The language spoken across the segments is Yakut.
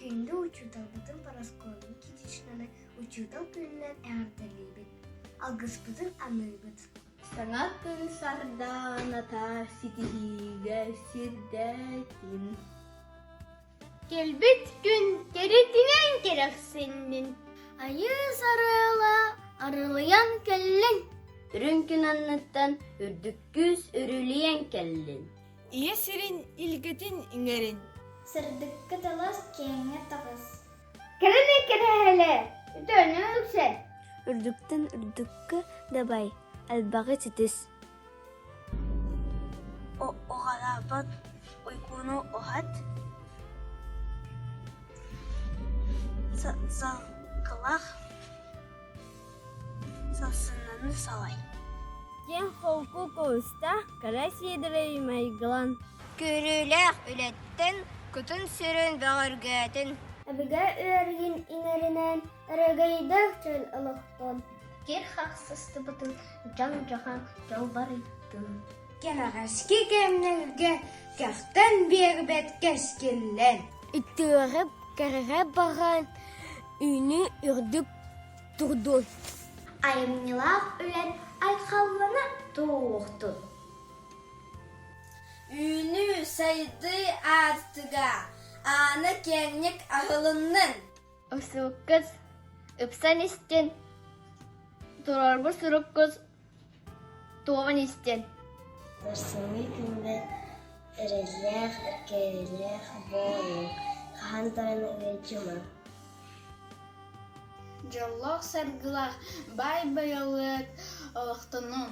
Күндү учууталбытын параскуолабыт китичканы учуутал күнүнэн эҕэрдэлиибит алгыспытын аныыбыт саҥа күн сардаана тар ситиһиигэ сирдэтин Кэлбит күн кэрэтинэн кэрэхсэннин, Айыыс арыала арылыйан кэллин, Үрүҥ күн анныттан үрдүк күүс үрүлүйэн кэллин. Ийэ сирин илгэтин иҥэрин. Сырдыкка талас, киэҥҥэ таҕыс. Кэлэни кэрэһэлэ, үтөөнү үксэ. Үрдүктэн үрдүккэ дабай, элбэҕи ситис. Уҕалаабыт уйгуну уһат, салгылах сарсыҥҥаны салай. Диэн холку куустаах кыра Сиэдэрэй майгылан. Көрүүлээх үлэттэн кутун-сүрүн бөҕөргөтүн. Эбигэ ыарыйын иҥэринэн Эрэгийдэх дьон олохтон кир-хахсыстыбытын дьон-дьахан дьолбарыйтын. Кэрэҕэски кэмнэргэ кэхтэн биэрбэт кэскиллэн. Итиэҕэ кэрэҕэ баран үүнүү үрдүк турдун. Айымньылаах үлэн айхаллана туохтун. Үүнүү сайдыы аартыга аана киэҥник аһылыннын! Осууккус, ыпсан истин, туруорбут суруккус туован истин Сымыы күндэ эрэллээх, эркээйилээх бооруу хаһан даҕаны ыалдьыма. Дьоллоох-саргылаах баай байылыт олохтонун!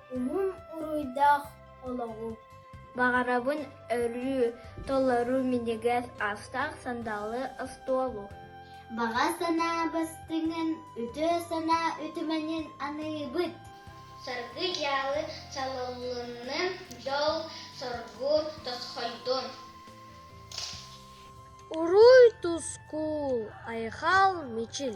Уҥун уруйдаах олоҕу баҕарабын өрүү толору минигир астаах сандалы остуолу Баҕа санаа бастыҥын, үтүө санаа үтүмэнин аныйыбыт. Саргы-дьаалы чалыллынным дьол соргу тосхойдун. Уруй тускул, айхал мичил